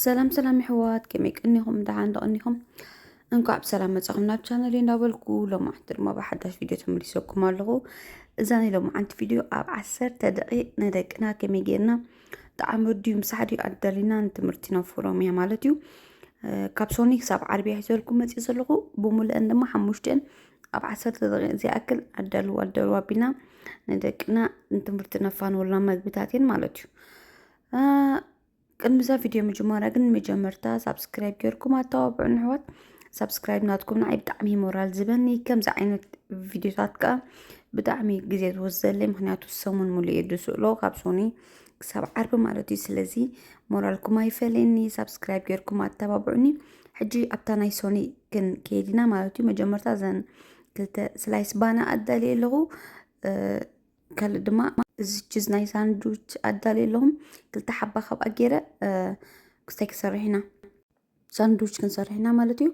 ሰላም ሰላም ይሕዋት ከመይ ቀኒኹም ደሓን ዶ ቀኒኹም እንኳዕ ብሰላም መጻኹም ናብ ቻነል እንዳበልኩ ሎማዓንቲ ድማ ብሓዳሽ ቪድዮ ተመሊሰኩም ኣለኹ እዛ ናይ ሎማዓንቲ ቪድዮ ኣብ ዓሰርተ ደቂቕ ንደቅና ከመይ ጌርና ጣዕሚ ድዩ ምሳሕ ድዩ ኣዳሊና ንትምህርቲ ነፍሮም እያ ማለት እዩ ካብ ሶኒ ክሳብ ዓርቢ ሒዘልኩም መፅእ ዘለኹ ብምሉአን ድማ ሓሙሽተን ኣብ ዓሰርተ ደቂቕ ዝኣክል ኣዳልው ኣዳልው ኣቢልና ንደቅና ንትምህርቲ ነፋንወልና መግብታት እየን ማለት እዩ ቅድሚ እዛ ቪድዮ ምጅማራ ግን መጀመርታ ሳብስክራይብ ጌርኩም ኣተባብዑን ኣሕዋት ሳብስክራይብ ናትኩም ንዓይ ብጣዕሚ እዩ ሞራል ዝበኒ ከምዚ ዓይነት ቪድዮታት ከዓ ብጣዕሚ ግዜ ዝወስደለይ ምክንያቱ ሰሙን ሙሉእ እየ ዝስእሎ ካብ ሶኒ ክሳብ ዓርቢ ማለት እዩ ስለዚ ሞራልኩም ኣይፈለየኒ ሳብስክራይብ ጌርኩም ኣተባብዑኒ ሕጂ ኣብታ ናይ ሶኒ ክንከይድ ኢና ማለት እዩ መጀመርታ እዘን ክልተ ስላይስ ባና ኣዳልየ ኣለኹ እ፣ ካልእ ድማ እዚ ችዝ ናይ ሳንዱች ኣዳልየ ኣለኹ ክልተ ሓባ ካብኣ ገይረ ክስታይ ክንሰርሕ ኢና ሳንዱች ክንሰርሕ ኢና ማለት እዩ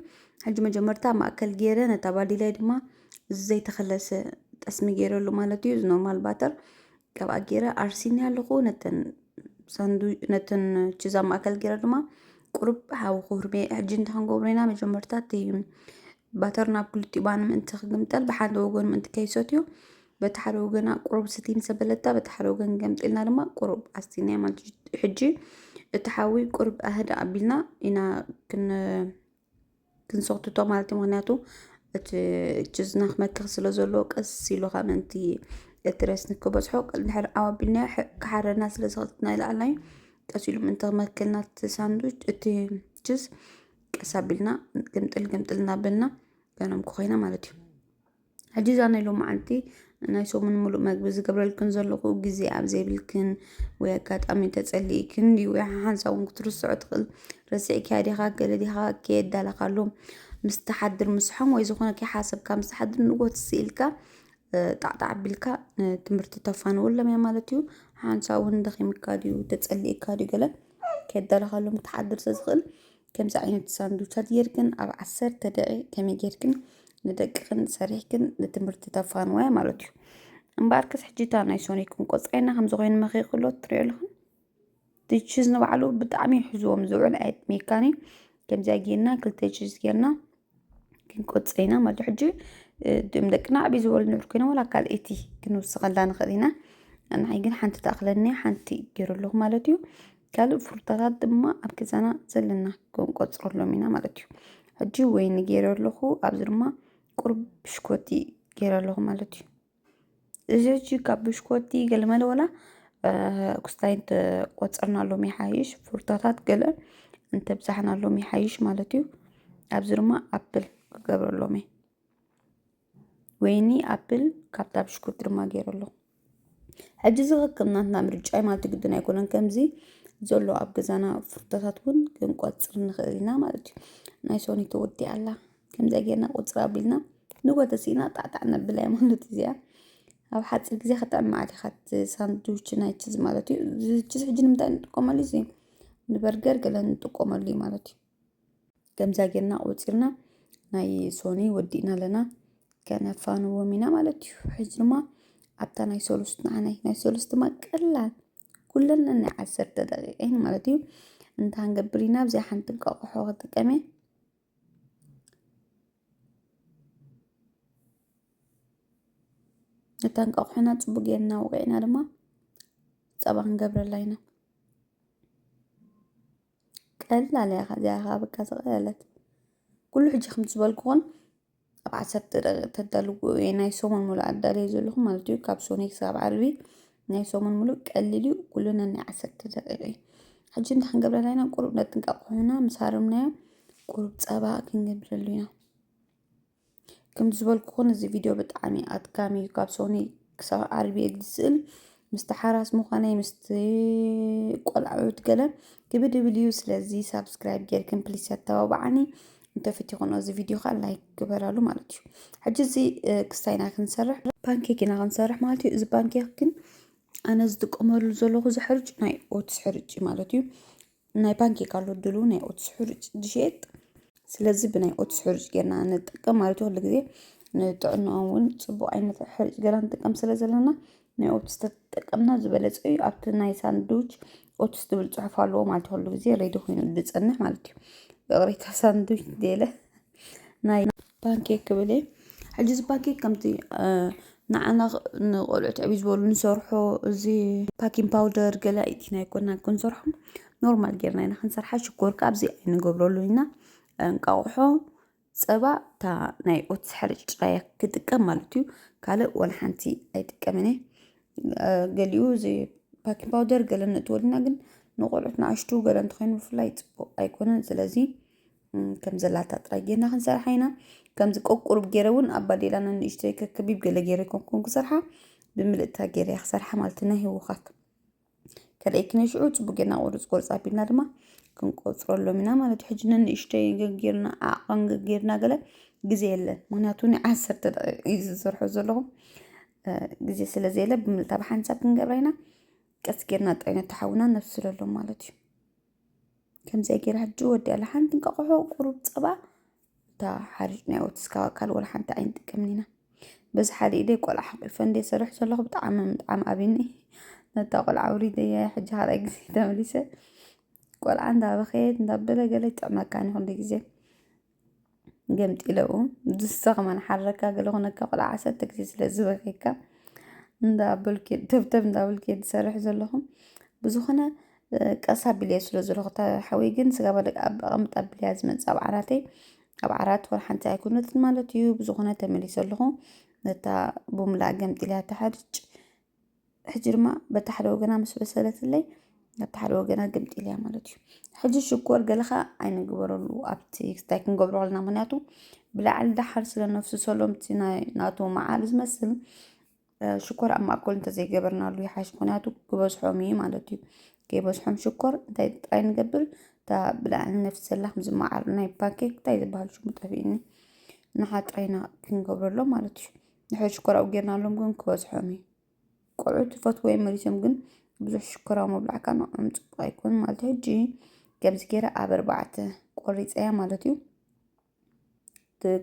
ሕጂ መጀመርታ ማእከል ገይረ ነታ ባዲላይ ድማ እዚ ዘይተኸለሰ ጠስሚ ገይረሉ ማለት እዩ እዚ ኖርማል ባተር ካብኣ ገይረ ኣርሲኒ ኣለኹ ነተን ሳንዱ ነተን ችዝ ኣብ ማእከል ገይረ ድማ ቁሩብ ሓዊ ክህርሜ ሕጂ እንታይ ክንገብሮ ኢና መጀመርታ እቲ ባተር ናብ ክልቲኡ ባኒ ምእንቲ ክግምጠል ብሓደ ወገኑ ምእንቲ ከይሰትዮ በቲ ሓደ ወገና ቁሩብ ስቲ ምስ ኣበለታ በቲ ሓደ ወገን ገምጢልና ድማ ቁሩብ ኣስቲናያ ማለት እዩ። ሕጂ እቲ ሓዊ ቁሩብ ኣህዳ ኣቢልና ኢና ክንሰክትቶ ማለት እዩ። ምክንያቱ እቲ ችዝና ክመክኽ ስለ ዘለዎ ቀስ ኢሉ ከዓ ምእንቲ እቲ ረስኒ ክበፅሖ ድሕሪ ዓው ኣቢልናዮ ክሓረና ስለ ዝኸትትና ይለዓልና እዩ። ቀስ ኢሉ ምእንቲ ክመክልና እቲ ሳንዱች እቲ ችዝ ቀስ ኣቢልና ግምጥል ግምጥል እናበልና ገኖም ክኮይና ማለት እዩ ሕጂ እዛ ናይ ሎም መዓልቲ ናይ ሰሙን ሙሉእ መግቢ ዝገብረልክን ዘለኹ ግዜ ኣብ ዘይብልክን ወይ ኣጋጣሚ ተጸሊእክን ድዩ ወይ ሓሓንሳ እውን ክትርስዖ ትኽእል ረሲዕኪያ ዲኻ ገለ ዲኻ ከየዳለኻሉ ምስ ትሓድር ምስሖም ወይ ዝኾነ ከይሓሰብካ ምስ ትሓድር ንጎት ስኢልካ ጣዕጣዕ ኣቢልካ ትምህርቲ ተፋንወሎም እያ ማለት እዩ ሓንሳ እውን ደኺምካ ድዩ ተጸሊእካ ድዩ ገለ ከይደለኻሎም ትሓድር ዘዝኽእል ከምዚ ዓይነት ሳንዱቻት ጌርክን ኣብ ዓሰርተ ደቂ ከመይ ጌርክን ንደቅኽን ሰሪሕክን ንትምህርቲ ተፋንዋያ ማለት እዩ እምበኣርከስ ሕጂ እታ ናይ ሶኒክን ቆፃይና ከምዚ ኮይኑ መኺኽሎ ትሪኦ ኣለኹን ቺዝ ንባዕሉ ብጣዕሚ እዩ ሕዝዎም ዝውዕል ኣይትሜካኒ ከምዚኣ ጌርና ክልተ ቺዝ ጌርና ክንቆጽ ኢና ማለት ሕጂ ድም ደቅና ዕብይ ዝበሉ ንብር ኮይኖም ዋላ ካልኣይቲ ክንውስኸላ ንኽእል ኢና ንዓይ ግን ሓንቲ ትኣኽለኒ ሓንቲ ገይሩ ኣለኹ ማለት እዩ ካልእ ፍሩታታት ድማ ኣብ ገዛና ዘለና ክንቆፅረሎም ኢና ማለት እዩ ሕጂ ወይኒ ገይረ ኣለኹ ኣብዚ ድማ ቁሩብ ብሽኮቲ ገይረ ኣለኹ ማለት እዩ እዚች ካብ ብሽኮቲ ገልመለ ወላ ኩስታይ እንተቆፀርናሎም ይሓይሽ ፍሩታታት ገለ እንተብዛሕናሎም ይሓይሽ ማለት እዩ ኣብዚ ድማ ኣፕል ክገብረሎም እየ ወይኒ ኣፕል ካብታ ብሽኮቲ ድማ ገይረሎ ሕጂ እዚ ከከም ናትና ምርጫ እዩ ማለት ግድን ኣይኮነን ከምዚ ዘሎ ኣብ ገዛና ፍሩታታት እውን ክንቆፅር ንኽእል ኢና ማለት እዩ ናይ ሶኒ ተወዲኣ ኣላ ከምዚኣ ጌርና ቁፅር ኣቢልና ንጎተሲ ኢና ጣዕጣዕ ነብላያ ማለት እዚኣ ኣብ ሓፂር ግዜ ክጥዕም መዓት ኢኻ እቲ ሳንድዊች ናይ ችዝ ማለት እዩ እዚ ችዝ ሕጂ ንምንታይ ንጥቀመሉ እዚ ንበርገር ገለ ንጥቀመሉ እዩ ማለት እዩ ከምዛ ጌርና ቆፂርና ናይ ሶኒ ወዲእና ኣለና ከነፋንዎም ኢና ማለት እዩ ሕጂ ድማ ኣብታ ናይ ሰሉስ ንዓናይ ናይ ሰሉስ ድማ ቀላል ኩለን ናይ ዓሰርተ ደቂቀይን ማለት እዩ እንታይ ንገብር ኢና ኣብዚኣ ሓንቲ እንቋቑሖ ክጥቀም እየ እታ እንቋቑሖና ፅቡቅ ጌርና ወቂዕና ድማ ፀባ ክንገብረላ ኢና ቀላል እያ እዚኣ ከዓ በቃ ዝቐለለት ኩሉ ሕጂ ከምቲ ዝበልኩኹን ኣብ ዓሰርተ ደቂቕ ተዳልውዎ እየ ናይ ሰሙን ሙሉእ ኣዳልየ ዘለኹ ማለት እዩ ካብ ሰኑይ ክሳብ ዓርቢ ናይ ሰሙን ሙሉእ ቀሊል እዩ ኩሉ ነናይ ዓሰርተ ደቂቕ እዩ ሕጂ እንታይ ክንገብር ኣለና ቁሩብ ነጥንቀቕ ኮይና ምስ ሃረምናዮ ቁሩብ ፀባ ክንገብረሉ ኢና ከምቲ ዝበልኩኹን እዚ ቪድዮ ብጣዕሚ ኣድካሚ እዩ ካብ ሰኑይ ክሳብ ዓርቢ እየ ዝስእል ምስቲ ሓራስ ምዃነይ ምስቲ ቆልዑት ገለ ክብድብል እዩ ስለዚ ሳብስክራይብ ጌርክን ፕሊስ ኣተባብዓኒ እንተፍትኹን እዚ ቪድዮ ከዓ ላይክ ግበራሉ ማለት እዩ ሕጂ እዚ ክስታይ ኢና ክንሰርሕ ፓንኬክ ኢና ክንሰርሕ ማለት እዩ እዚ ፓንኬክ ግን ኣነ ዝጥቀመሉ ዘለኹ እዚ ሕርጭ ናይ ኦትስ ሕርጭ ማለት እዩ ናይ ባንክ ይካሉ ድሉ ናይ ኦትስ ሕሩጭ ዝሸየጥ ስለዚ ብናይ ኦትስ ሕሩጭ ጌርና ንጠቀም ማለት ኩሉ ግዜ ንጥዕና እውን ፅቡቅ ዓይነት ሕሩጭ ጌርና ንጥቀም ስለ ዘለና ናይ ኦትስ ተጠቀምና ዝበለፀ እዩ ኣብቲ ናይ ሳንዱች ኦትስ ዝብል ፅሑፍ ኣለዎ ማለት ኩሉ ግዜ ሬዲ ኮይኑ ዝፀንሕ ማለት እዩ ይቅሬታ ሳንዱች እንተይለ ናይ ፓንኬክ ክብል እየ ሕጂ እዚ ፓንኬክ ከምቲ ንዓና ንቆልዑት ዕብይ ዝበሉ ንሰርሖ እዚ ፓኪን ፓውደር ገለ ኢትና ኣይኮናን ክንሰርሖ ኖርማል ጌርና ኢና ክንሰርሓ ሽኮር ከዓ ኣብዚ ኣይንገብረሉ ኢና እንቃቑሖ ፀባ እታ ናይ ኦትስ ሕርጭ ጥራይ እያ ክጥቀም ማለት እዩ ካልእ ዋላ ሓንቲ ኣይጥቀምን እየ ገሊኡ እዚ ፓኪን ፓውደር ገለ ነእትወልና ግን ንቆልዑት ንኣሽቱ ገለ እንተኾይኑ ብፍላይ ፅቡቅ ኣይኮነን ስለዚ ከም ዘላታ ጥራይ ጌርና ክንሰርሓ ኢና ከምዚ ቆቁሩብ ገይረ እውን ኣብ ባዴላ ንንእሽተይ ከከቢብ ገለ ገይረ ኮንኩን ክሰርሓ ብምልእታ ገይረ እያ ክሰርሓ ማለት እዩ ናይ ህወኻት ከደይክነ ሽዑ ፅቡቅ ጌርና ቁርፅ ቁርፅ ኣቢልና ድማ ክንቆፅረሎም ኢና ማለት እዩ ሕጂ ንንእሽተይ ገጌርና ዓቐን ገጌርና ገለ ግዜ የለን ምክንያቱ ናይ ዓሰርተ ደቂቕ እዩ ዝሰርሖ ዘለኹ ግዜ ስለ ዘየለ ብምልታ ብሓንሳብ ክንገብራ ኢና ቀስ ጌርና ጥራይ ነተሓውና ነብስለሎም ማለት እዩ ከምዚኣ ገይረ ሕጂ ወዲኣ ሓንቲ እንቃቆሖ ቁሩብ ፀባ እታ ሓርጭ ናይ ኦትስ ካብ ኣካል ወላ ሓንቲ ኣይንጥቀምን ኢና በዚ ሓደ ኢደይ ቆልዓ ሓቂፈ እንደ ሰርሕ ዘለኹ ብጣዕሚ ምጥዓም ኣብኒ ነታ ቆልዓ ውሪደያ ሕጂ ካልኣይ ግዜ ተመሊሰ ቆልዓ እንዳበኸየት እንዳበለ ገለ ይጥዕመካን ይኹን ግዜ ገምጢለኡ ዝስኽ መንሓረካ ገለ ኹነካ ቆልዓ ዓሰርተ ግዜ ስለ ዝበከየካ እንዳበልኪ ተብተብ እንዳበልኪ ትሰርሒ ዘለኹም ብዝኾነ ቀስ ኣቢለ ስለ ዘለኹ እታ ሓወይ ግን ስጋ ባደግ ኣብ ኣቐምጥ ኣቢለያ ዝመፅእ ኣብ ዓራተይ ኣብ ዓራት ወር ሓንቲ ኣይኮነትን ማለት እዩ ብዝኾነ ተመሊሰ ኣለኹ ነታ ብሙላ ገምጢለያ ትሓርጭ ሕጂ ድማ በቲ ሓደ ወገና ምስ በሰለትለይ በቲ ሓደ ወገና ግምጢ ኢለያ ማለት እዩ ሕጂ ሽኮር ገለ ከዓ ኣይንግበረሉ ኣብቲ ክስታይ ክንገብሮ ከለና ምክንያቱ ብላዕሊ ዳሓር ስለ ነፍሱ ሰሎምቲ ናይ ናቱ መዓር ዝመስል ሽኮር ኣብ ማእከሉ እንተዘይገበርናሉ ይሓሽ ምክንያቱ ክበዝሖም እዩ ማለት እዩ ከይበዝሖም ሽኮር እንታይ ጥራይ ንገብር እታ ብላዕሊ ነፍሲ ዘላ ከምዚ መዓር ናይ ፓንኬክ እንታይ ዝበሃል ሽሙ ጠፊእኒ ንሓ ጥራይና ክንገብረሎም ማለት እዩ ንሕድ ሽኮራዊ ጌርናሎም ግን ክበዝሖም እዩ ቆልዑ ትፈትዎ እዮም መሊሶም ግን ብዙሕ ሽኮራዊ ምብላዕካ ንዕኦም ፅቡቅ ኣይኮን ማለት ሕጂ ከምዚ ገይረ ኣብ ኣርባዕተ ቆሪፀያ ማለት እዩ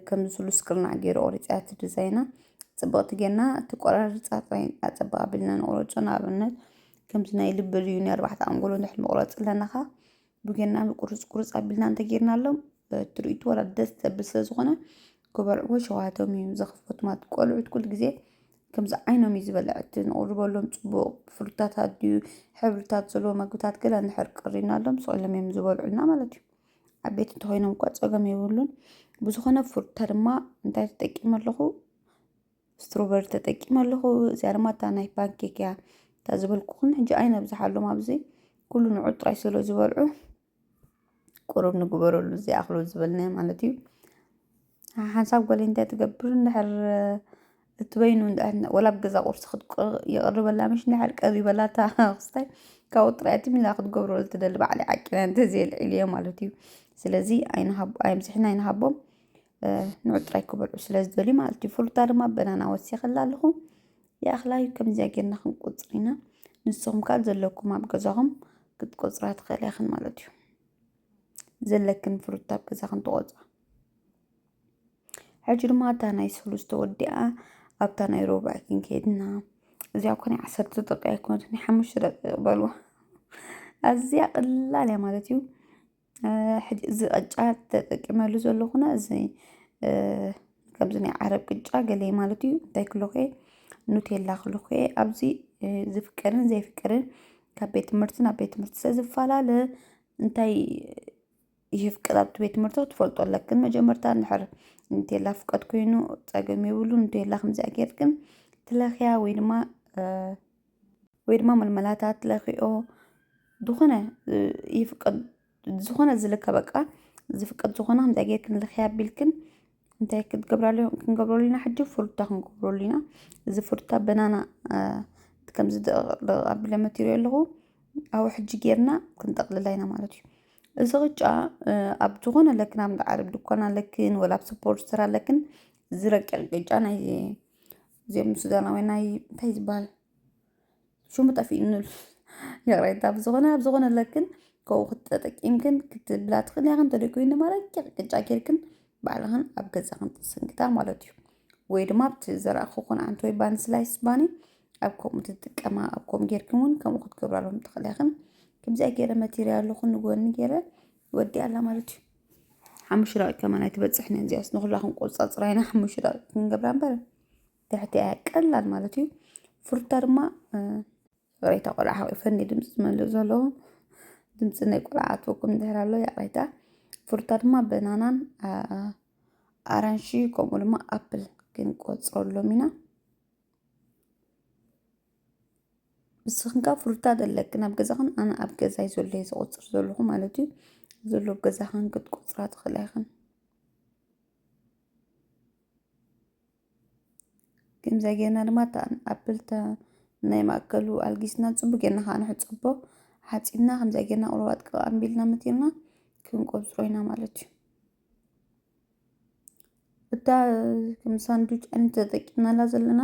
ከምዚ ስሉስ ቅርናዕ ገይረ ቆሪፀያ እቲ ዲዛይና ፅብቕቲ ጌርና እቲ ቆራርፃ ጥራይ ኣፀብቕ ኣቢልና ንቑረፆ ንኣብነት ከምዚ ናይ ልቢ ልዩ ናይ ኣርባዕተ ኣንጎሎ ንድሕር ምቑረፅ ኣለናኻ ብገና ቁርፅ ቁርፅ ኣቢልና እንተጌርናሎም ትርኢቱ ዋላ ደስ ዘብል ስለ ዝኾነ ክበልዕዎ ሸውሃቶም እዩ ዘኽፍት ማለት ቆልዑት ኩሉ ግዜ ከምዚ ዓይኖም እዩ ዝበልዕ እቲ ንቕርበሎም ፅቡቕ ፍሩታት ኣድዩ ሕብርታት ዘለዎ ምግብታት ገለ እንድሕር ቀሪብናሎም ስቕ ኢሎም እዮም ዝበልዑልና ማለት እዩ ዓበይቲ እንተኾይኖም እኳ ፀገም የብሉን ብዝኾነ ፍሩታ ድማ እንታይ ተጠቂመ ኣለኹ ስትሮቨር ተጠቂመ ኣለኹ እዚኣ ድማ እታ ናይ ፓንኬክ እያ እታ ዝበልኩኹም ሕጂ ኣይነብዝሓሎም ኣብዚ ኩሉ ንዑ ጥራይ ስለ ዝበልዑ ቁሩብ ንግበረሉ እዚኣ ክሎ ዝበልናዮ ማለት እዩ ሓንሳብ ጓል እንታይ ትገብር እንድሕር እትበይኑ ወላ ኣብ ገዛ ቁርሲ ይቕርበላ ምሽ እንድሕር ቀሪበላ እታ ክስታይ ካብኡ ጥራይ እቲ ሚላ ክትገብሮ ዝትደሊ ባዕለይ ዓቂና እንተዘየልዒልዮ ማለት እዩ ስለዚ ኣይንሃብ ኣየምስሕና ኣይንሃቦም ንዑ ጥራይ ክበልዑ ስለ ዝደልዩ ማለት እዩ ፍሉጣ ድማ በናና ወሲኸላ ኣለኹ ይኣኽላዩ ከምዚኣ ጌርና ክንቆፅር ኢና ንስኹም ካል ዘለኩም ኣብ ገዛኹም ክትቆፅራ ትኽእል ያኽን ማለት እዩ ዘለክን ፍሉጣ ኣብ ገዛ ክንትቆፅራ ሕጂ ድማ እታ ናይ ሰሉስ ተወዲኣ ኣብታ ናይ ሮብዕ ክንከይድና እዚኣ ኮነ ዓሰርተ ደቂቃ ኣይኮነት ናይ ሓሙሽተ ደቂቃ በልዋ ኣዝያ ቀላል እያ ማለት እዩ ሕጂ እዚ ቅጫ ተጠቂመሉ ዘለኹና እዚ ከምዚ ናይ ዓረብ ቅጫ ገለ ማለት እዩ እንታይ ክብሎ እየ ኑቴላ ክብሎ እየ ኣብዚ ዝፍቀድን ዘይፍቀድን ካብ ቤት ትምህርቲ ናብ ቤት ትምህርቲ ስለዝፈላለ እንታይ ይፍቀድ ኣብቲ ቤት ትምህርቲ ክትፈልጦ ኣለክን መጀመርታ እንድሕር ኑቴላ ፍቀድ ኮይኑ ፀገም የብሉ ኑቴላ ከምዚኣ ጌርክን ትለኽያ ወይ ድማ ወይ ድማ ምልመላታት ለኪኦ ዝኾነ ይፍቀድ ዝኾነ ዝልከ በቃ ዝፍቀድ ዝኾነ ከምታይ ጌርክን ልኪ ኣቢልክን እንታይ ክትገብራሉ ክንገብረሉ ኢና ሕጂ ፍሩታ ክንገብረሉ ኢና እዚ ፍሩታ በናና ከምዚ ደቕ ኣቢለ መቲረዮ ኣለኹ ኣብኡ ሕጂ ጌርና ክንጠቕልላ ኢና ማለት እዩ እዚ ቅጫ ኣብ ዝኾነ ለክን ኣብ ዓረብ ድኳን ኣለክን ወላ ኣብ ስፖርት ስራ ኣለክን ዝረቅቕ ቅጫ ናይ እዚኦም ሱዳናውያን ናይ እንታይ ዝበሃል ሽሙ ጠፊእኒ ይቕሬታ ብዝኾነ ኣብ ዝኾነ ለክን ከምኡ ክትጠቂምክን ክትብላ ትኽእል ኢኻ እንተደይኮይኑ ድማ ረቂቕ ቅጫ ጌርክን ባዕልኽን ኣብ ገዛኽን ትስንክታ ማለት እዩ ወይ ድማ ኣብቲ ዘረእኹ ኮን ዓንቲ ወይ ባኒ ስላይስ ባኒ ኣብ ከምኡ ትጥቀማ ኣብ ከምኡ ጌርክን እውን ከምኡ ክትገብራሎም ትኽእል ኢኽን ከምዚኣ ገይረ መቴሪያልኹን ንጎኒ ገይረ ወዲኣላ ማለት እዩ ሓሙሽተ ደቂቅ ከማን ኣይትበፅሕን እዚኣስ ንኩላ ክንቆፃፅራ ኢና ሓሙሽተ ደቂቅ ክንገብራ እምበር ትሕቲ እያ ቀላል ማለት እዩ ፍሩታ ድማ ይቕሬታ ቆልዓ ሓቂፈኒ ድምፂ ዝመልእ ዘሎ ድምፂ ናይ ቆልዓ ኣትወኩም ድሕር ኣሎ ይቕሬታ ፍሩታ ድማ በናናን ኣራንሺ ከምኡ ድማ ኣፕል ክንቆፅረሎም ኢና ንስኽንካ ፍሩታት ኣለክን ኣብ ገዛኽን ኣነ ኣብ ገዛይ ዘሎ እየ ዝቑጽር ዘለኹ ማለት እዩ ዘሎ ኣብ ገዛኽን ክትቁጽራ ትኽእላ ኢኽን ከምዚ ጌርና ድማ እታ ኣፕልታ ናይ ማእከሉ ኣልጊስና ጽቡቅ ጌርና ከዓ ንሕጽቦ ሓጺብና ከምዚ ጌርና ቁርባት ቅቃ ኣንቢልና መቲርና ክንቆጽሮ ኢና ማለት እዩ እታ ከም ሳንዱች ዓይነት ተጠቂምናላ ዘለና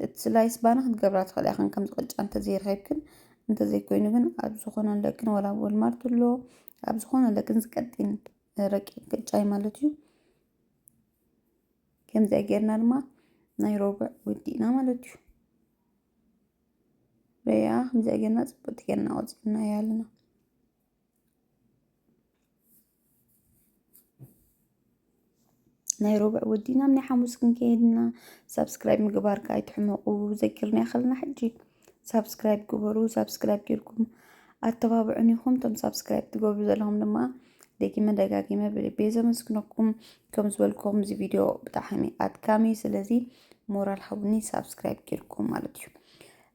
እቲ ስላይስ ባኒ ክትገብራ ትኽእላ ኢኽን ከምዚ ቅጫ እንተዘይረኺብክን እንተዘይኮይኑ ግን ኣብ ዝኾነ ለክን ወላ ኣብ ወልማርት ኣሎ ኣብ ዝኾነ ለክን ዝቀጢን ረቂቕ ቅጫ እዩ ማለት እዩ ከምዚኣ ጌርና ድማ ናይ ሮብዕ ወዲእና ማለት እዩ በያ ከምዚኣ ጌርና ፅብቅቲ ጌርና ቆፂርና እያ ኣለና ናይ ሮብዕ ወዲና ናይ ሓሙስ ክንከይድና ሳብስክራይብ ምግባርካ ኣይትሕመቑ ዘኪርና ይኸልና ሕጂ ሳብስክራይብ ግበሩ ሳብስክራይብ ጌርኩም ኣተባብዑን ይኹም እቶም ሳብስክራይብ ትገብሩ ዘለኹም ድማ ደጊመ ደጋጊመ ብልቤ ዘመስግነኩም ከም ዝበልኩም እዚ ቪድዮ ብጣዕሚ ኣድካሚ ስለዚ ሞራል ሃቡኒ ሳብስክራይብ ጌርኩም ማለት እዩ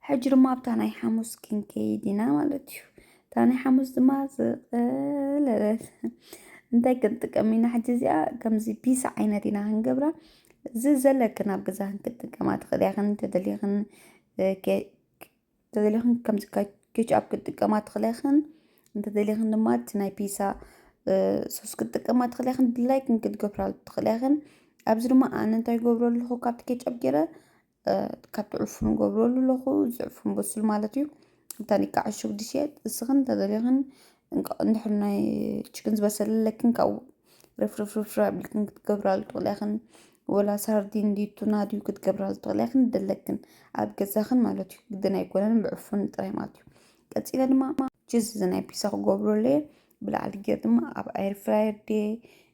ሕጂ ድማ ኣብታ ናይ ሓሙስ ክንከይድ ኢና ማለት እዩ እታ ናይ ሓሙስ ድማ ዝቐለለት እንታይ ክንጥቀም ኢና ሕጂ እዚኣ ከምዚ ፒስ ዓይነት ኢና ክንገብራ እዚ ዘለክን ኣብ ገዛክን ክትጥቀማ ትኽእልያኽን እንተደልየኽን እንተደልየኽን ከምዚ ኬችኣፕ ክትጥቀማ ትኽእልያኽን እንተደልየኽን ድማ እቲ ናይ ፒሳ ሶስ ክትጥቀማ ትኽእልያኽን ድላይክን ክትገብራ ትኽእልያኽን ኣብዚ ድማ ኣነ እንታይ ገብሮ ኣለኹ ካብቲ ኬችኣፕ ገይረ ካብ ትዕፍኑ ገብረሉ ኣለኹ ዝዕፍን በሱል ማለት እዩ እንታን ይካ ዕሹግ ድሽየጥ እስኽን እንተዘልኽን እንድሕር ናይ ችክን ዝበሰለለክን ካብ ርፍርፍርፍር ኣብልክን ክትገብራሉ ትኽእለኽን ወላ ሳርዲን ድዩ ቱና ድዩ ክትገብራሉ ትኽእለኽን ደለክን ኣብ ገዛኽን ማለት እዩ ግድን ኣይኮነን ብዕፉን ጥራይ ማለት እዩ ቀፂለ ድማ ችዝ ናይ ፒሳ ክገብረሉ እየ ብላዕሊ ገይር ድማ ኣብ ኣይር ፍራየር ድየ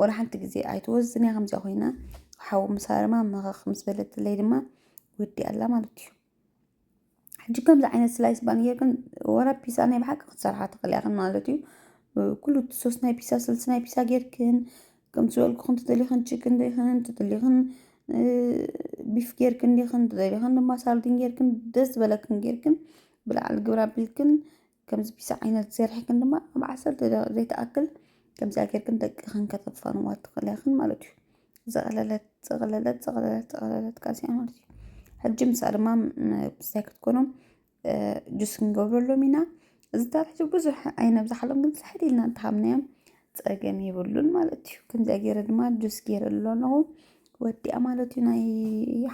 ወላ ሓንቲ ግዜ ኣይትወዝን እያ ከምዚኣ ኮይና ሓዊ ምስ ሃረማ መኸኽ ምስ በለትለይ ድማ ወዲኣ ኣላ ማለት እዩ ሕጂ ከምዚ ዓይነት ስላይስ ባን ጌርክን ወላ ፒሳ ናይ ብሓቂ ክትሰርሓ ትኽእል ኢኽን ማለት እዩ ኩሉ ሶስት ናይ ፒሳ ስልሲ ናይ ፒሳ ጌርክን ከምዚ ዝበልኩኽን ትደሊኽን ችክን ዲኽን ትደሊኽን ቢፍ ጌርክን ዲኽን ትደሊኽን ድማ ሳርዲን ጌርክን ደስ ዝበለክን ጌርክን ብላዕሊ ግብረ ኣቢልክን ከምዚ ቢዚ ዓይነት ዘርሒክን ድማ ኣብ ዓሰርተ ደቂቕ ዘይትኣክል ከምዚ ኣገርክን ደቅኽን ከተፋንዋ ትኽእላ ኢኽን ማለት እዩ። ዘቕለለት ዘቕለለት ዘቕለለት ዘቕለለት ቃልሲ ማለት እዩ። ሕጂ ምሳ ድማ ብስታይ ክትኮኖም ጁስ ክንገብረሎም ኢና። እዚ ታሪክ ብዙሕ ኣይነብዛሓሎም ግን ስሕት ኢልና እንተሃብናዮም ፀገም የብሉን ማለት እዩ። ከምዚ ገይረ ድማ ጁስ ገይረሉ ኣለኹ ወዲኣ ማለት እዩ ናይ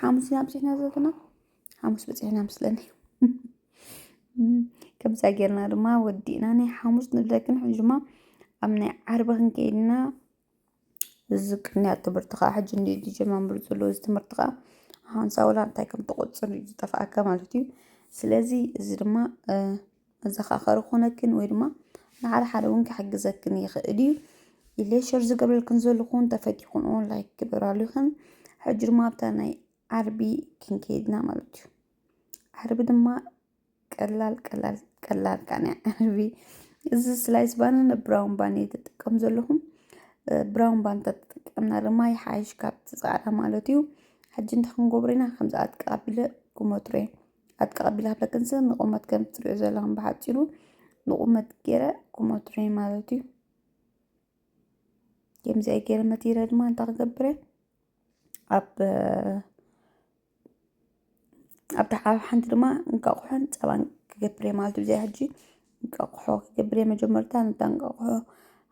ሓሙስ ኢና ኣብፂሕና ዘለና ሓሙስ በፂሕና ምስለኒ ከምዛ ጌርና ድማ ወዲእና ናይ ሓሙስ ንብለክን ሕጂ ድማ ኣብ ናይ ዓርቢ ክንከይድና እዚ ቅንያ ትምህርቲ ከዓ ሕጂ እንዲ ዝጀማምሩ ዘሎ እዚ ትምህርቲ ከዓ ሓንሳ ወላ እንታይ ከም ትቆፅር እዩ ዝጠፍኣካ ማለት እዩ ስለዚ እዚ ድማ መዘኻኸሪ ኮነክን ወይ ድማ ንሓደ ሓደ እውን ክሕግዘክን ይኽእል እዩ ኢለ ሸር ዝገብረልክን ዘለኹን ተፈቲኹን እውን ላይክ ግበራሉ ይኽን ሕጂ ድማ ኣብታ ናይ ዓርቢ ክንከይድ ኢና ማለት እዩ። ዓርቢ ድማ ቀላል ቀላል ቀላል ቃንያ ዓርቢ እዚ ስላይስ ባንን ብራውን ባን እየ ተጠቀም ዘለኹም ብራውን ባን ተጠቀምና ድማ ይሓይሽ ካብቲ ፃዕዳ ማለት እዩ ሕጂ እንታይ ክንገብሮ ኢና ከምዚ ኣጥቃ ኣቢለ ክመትሮ እየ ኣጥቃ ኣቢለ ኣብለክንሰ ንቑመት ከም ትሪኦ ዘለኹም ብሓፂሩ ንቑመት ገይረ ክመትሮ እየ ማለት እዩ ከምዚ ኣይ ገይረ መቲረ ድማ እንታይ ክገብረ ኣብ ኣብታ ዓብ ሓንቲ ድማ እንቃቑሖን ጸባን ክገብር እየ ማለት እዩ ብዘይ ሕጂ እንቃቑሖ ክገብር እየ መጀመርታ ነታ እንቃቑሖ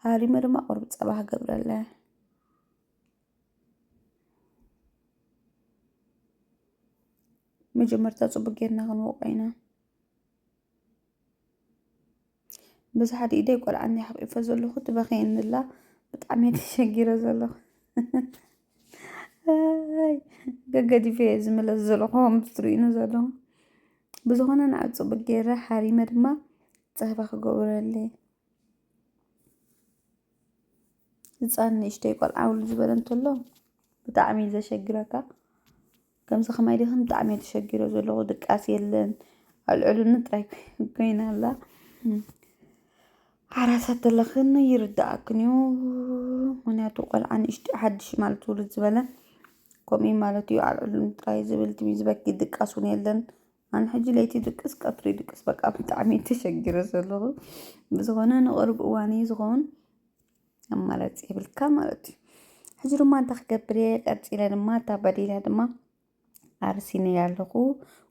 ሃሪመ ድማ ቁርብ ጸባ ክገብረለ መጀመርታ ጽቡቅ ጌርና ክንወቆ ኢና በዚ ሓደ ኢደይ ቆልዓ እንዲየ ሓቂፈ ዘለኹ ትበኽየኒ ኣላ ብጣዕሚ እየ ተሸጊረ ዘለኹ ኣይ፣ ገገዲፈ እየ ዝምለስ ዘለኹ ከምዚ ትርእዩኒ ዘለኹ ብዝኾነ ንዓ ፅቡቅ ገይረ ሓሪመ ድማ ፀህባ ክገብረለይ ህፃን ንእሽተይ ቆልዓ ውል ዝበለ እንተሎ ብጣዕሚ እዩ ዘሸግረካ ከምዚ ከማይ ዲክን ብጣዕሚ እየ ተሸጊረ ዘለኩ ድቃስ የለን ኣልዕሉኒ ጥራይ ኮይና ኣላ ሓራሳት ዘለክን ይርዳኣክን እዩ ምክንያቱ ቆልዓ ንእሽተይ ሓድሽ ማለት ውልድ ዝበለ ከምኡ እዩ ማለት እዩ ኣልዕሉኒ ጥራይ ዝብል ትም ዝበኪ ድቃስ እውን የለን ኣነ ሕጂ ለይቲ ይድቅስ ቀትሪ ይድቅስ በቃ ብጣዕሚ እየ ተሸጊረ ዘለኩ ብዝኮነ ንቅርብ እዋን እዩ ዝከውን ኣማራፂ የብልካ ማለት እዩ ሕዚ ድማ እንታይ ክገብር እየ ቀፂለ ድማ እታ በዲላ ድማ ኣርሲ ነይ ኣለኹ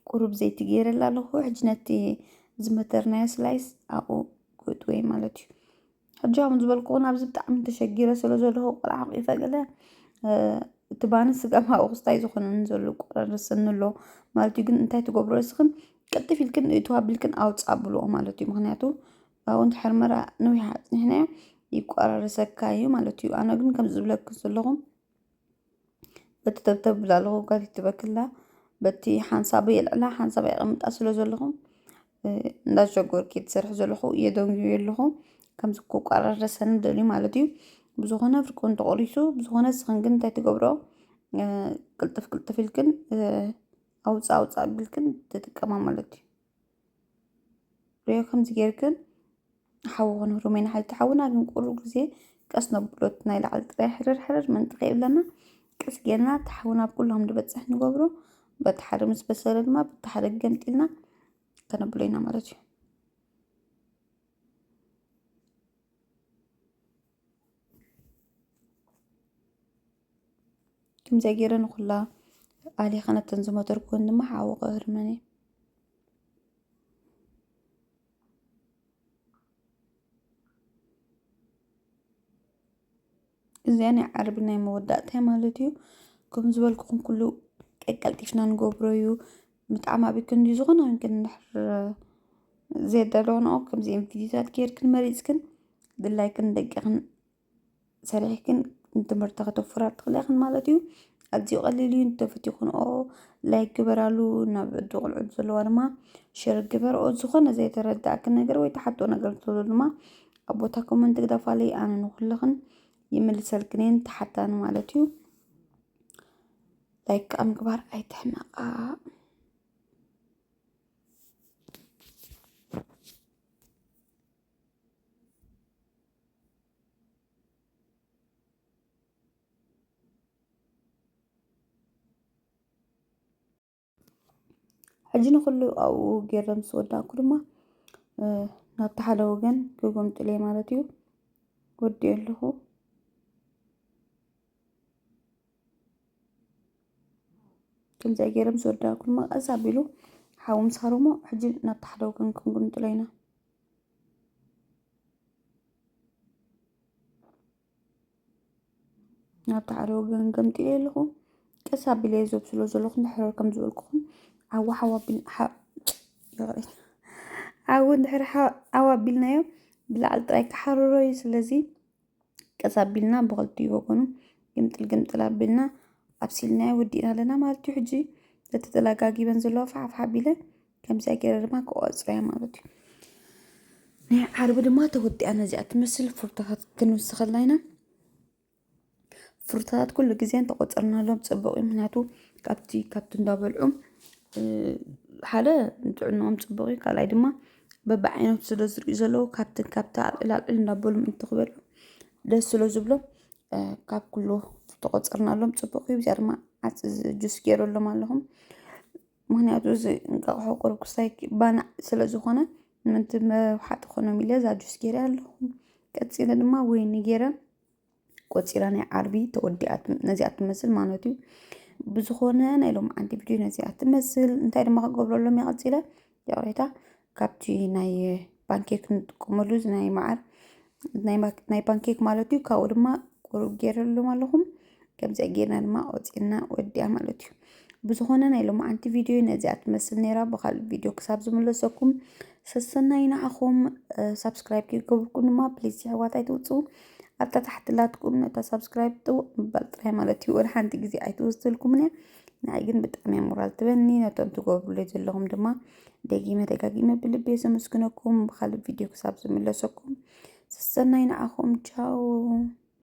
ቁሩብ ዘይቲ ገይረላ ኣለኹ ሕጂ ነቲ ዝመተርናዮ ስላይስ ኣብኡ ክእትወይ ማለት እዩ ሕጂ ከም ዝበልኩ እውን ኣብዚ ብጣዕሚ ተሸጊረ ስለ ዘለኹ ቆልዓ ቂፈ ገለ እ፣ እቲ ባኒ ስጋ ማኡ ክስታይ ዝኾነን ዘሎ ቆረርስኒ ኣሎ ማለት እዩ ግን እንታይ ትገብሮ እስኽን ቅልጥፍ ኢልክን እቱ ኣቢልክን ኣውፃ ብልኦ ማለት እዩ ምክንያቱ ኣብኡ እንድሕር መራ ንዊሕ ኣጽኒሕናዮ ይቆራረሰካ እዩ ማለት እዩ ኣነ ግን ከምዚ ዝብለኩ ዘለኹ በቲ ተብተብ ብላ ኣለኹ ጋል ይትበክላ በቲ ሓንሳብ የልዕላ ሓንሳብ የቐምጣ ስለ ዘለኹ እንዳሸጎርኪ ትሰርሒ ዘለኹ የደንግዩ ኣለኹ ከምዚ ክቋራረሰ ንደልዩ ማለት እዩ ብዝኾነ ፍርቁን ተቖሪሱ ብዝኾነ ስኽን ግን እንታይ ትገብሮ ቅልጥፍ ቅልጥፍ ኢልክን ኣውፃ ኣውፃ ኣቢልክን ትጥቀማ ማለት እዩ ሪኦ ከምዚ ጌርክን ሓዊ ኮነ ሩሜና ሓልቲ ሓውና ግን ቁሩብ ግዜ ቀስ ነብሎ እቲ ናይ ላዕሊ ጥራይ ሕርር ሕርር መንጥቕ የብለና ቀስ ጌርና እቲ ሓዊ ናብ ኩሎም ዝበፅሕ ንገብሮ በቲ ሓደ ምስ በሰለ ድማ በቲ ሓደ ገምጢልና ከነብሎ ኢና ማለት እዩ ከምዚኣ ገይረ ንኹላ ኣሊኻ ነተን ዝሞተርኩን ድማ ሓዊ ክህርመን እዩ እዚኣ ናይ ዓርቢ ናይ መወዳእታ ማለት እዩ ከም ዝበልኩኹም ኩሉ ቀቀልጢፍና ንገብሮ እዩ ብጣዕሚ ኣብ ክንዲ ዝኾነ ግን ድሕር ዘየዳለውንኦ ከምዚኦም ቪድዮታት ጌርክን መሪፅክን ድላይክን ደቂኽን ሰሪሕክን ንትምህርቲ ከተፍራ ትኽእላ ኢኽን ማለት እዩ። ኣዝዩ ቀሊል እዩ እንተፈቲኽንኦ ላይክ ግበራሉ ናብ ዕዱ ቆልዑት ዘለዋ ድማ ሸር ግበርኦ ዝኾነ ዘይተረዳእኪ ነገር ወይ ተሓቶ ነገር እንተሎ ድማ ኣብ ቦታ ኮመንት ግደፋለይ ኣነ ንኹልኽን ይምልሰልክን እየን ተሓታኒ ማለት እዩ ላይክ ኣብ ምግባር ኣይትሕመቃ ሕጂ ንኹሉ ኣብኡ ጌረ ምስ ወዳእኩ ድማ ናብቲ ሓደ ወገን ክጎምጥለይ ማለት እዩ ወዲኦ ኣለኹ ከምዚ ገይረ ምስ ወዳእኩ ድማ ቀስ ኣቢሉ ሓዊ ምስ ሃረሞ ሕጂ ናብቲ ሓደ ወገን ክንጉምጥሎ ኢና ናብቲ ሓደ ወገን ገምጢለ ኣለኹ ቀስ ኣቢለ ዘብስሎ ዘለኹ ንሕረር ከም ዝበልኩኹም ዓዊ ሓዊ ኣቢል ዓዊ ድሕሪ ሓዊ ኣቢልናዮ ብላዕሊ ጥራይ ክሓርሮ እዩ ስለዚ ቀስ ኣቢልና ብክልቲኡ ወገኑ ግምጥል ግምጥል ኣቢልና ኣብሲልናዮ ወዲእና ኣለና ማለት እዩ ሕጂ እቲ ተላጋጊበን ዘለዎ ፋሕፋሕ ኣቢለን ከምዚኣ ገይረ ድማ ክቆፅረያ ማለት እዩ ናይ ዓርቢ ድማ ተወዲኣ ነዚኣ ትመስል ፍርታታት ክንውስኸልና ኢና ፍርታታት ኩሉ ግዜ እንተቆፀርናሎም ፅቡቅ እዩ ምክንያቱ ካብቲ ካብቲ እንዳበልዑ ሓደ ንጥዕንኦም ፅቡቅ እዩ ካልኣይ ድማ በብዓይነቱ ስለ ዝሪኡ ዘለዉ ካብትን ካብታ ኣልዕል ኣልዕል እንዳበሉ ምእንቲ ክበሉ ደስ ስለ ዝብሎም ካብ ኩሉ ተቆፀርናሎም ፅቡቅ እዩ። እዚኣ ድማ ዓፅ ጁስ ገይረሎም ኣለኹ ምክንያቱ እዚ እንቃቅሖ ቁሩብ ክስታይ ባናዕ ስለ ዝኾነ ምእንቲ መውሓጢ ክኾኖም ኢለ እዛ ጁስ ገይረ ኣለኹ። ቀፂለ ድማ ወይኒ ገይረ ቆፂራ ናይ ዓርቢ ተወዲኣ ነዚኣ ትመስል ማለት እዩ ብዝኾነ ናይ ሎምዓንቲ ቪድዮ ነዚኣ ትመስል እንታይ ድማ ክገብረሎም እየ ቀፂለ ይቕሬታ ካብቲ ናይ ፓንኬክ ንጥቀመሉ እዚ ናይ መዓር ናይ ማ- ናይ ፓንኬክ ማለት እዩ ካብኡ ድማ ቁሩብ ገይረሎም ኣለኹም ከምዚ ጌርና ድማ ቆፂርና ወዲኣ ማለት እዩ ብዝኾነ ናይ ሎምዓንቲ ቪድዮ ነዚኣ ትመስል ነይራ ብካልእ ቪድዮ ክሳብ ዝምለሰኩም ሰሰናይ ንዓኹም ሳብስክራይብ ከይገብርኩም ድማ ፕሊዝ የሕዋት ኣይትውፅኡ ኣብታ ታሕቲ ላትኩም ነታ ሳብስክራይብ ጥውቅ ምባል ጥራይ ማለት እዩ ወላ ሓንቲ ግዜ ኣይትወስደልኩምን እያ ንዓይ ግን ብጣዕሚ እያ ሞራል ትበኒ ነቶም ትገብሩለይ ዘለኹም ድማ ደጊመ ደጋጊመ ብልቢ ዘመስግነኩም ብካልእ ቪድዮ ክሳብ ዝምለሰኩም ሰሰናይ ንዓኹም ቻው